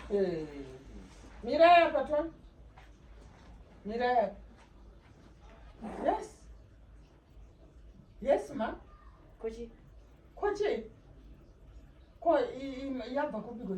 Hey. Mira hapa tu. Mira hapa. Yes. Yes, ma. Koji. Koji. Ko yabva kupi kwe?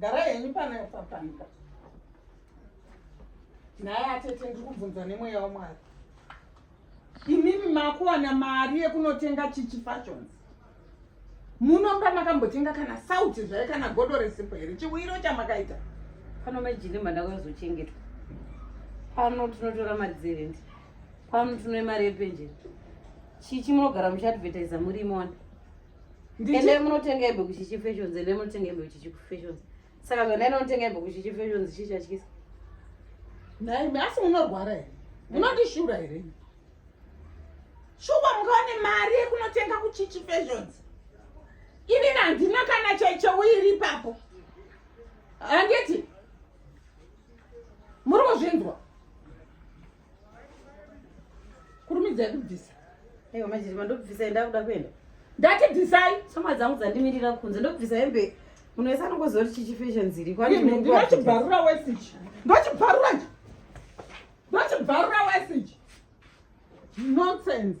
Gara henyu pana papanika. Naye atete ndiri kubvunza nemweya waMwari. Imimi makuwana mari yekunotenga chichi fashions. Munomba makambotenga kana sauti zvaye kana godo resipo here chiwiro chamakaita. Pano majini manda kuzochengetwa. Pano tinotora mari dzerendi. Pano tinoe mari yepenjeni. Chichi munogara muchiadvertiser muri imona. ende munotenga hembe kuchichi fashions ende munotenga hembe kuchichi kufashions saka kana inotenga hembe kuchichi fashions chii chatyisa naimi asi munorwara here munotishura here shuwa mukawane mari yekunotenga kuchichi fashions ini nandina kana chaicheuiri ipapo handiti muri kuzvinzwa kurumidzai kubvisa aiwa majiri mandobvisai ndakuda kuenda ndati bvisai shama dzangu dzandimirira kunze ndobvisa hembe munhu wese anongozoti chichifashion dziri kwandinochibvarura wesichi ndochibvarura chi ndochibvarura wesichi nonsense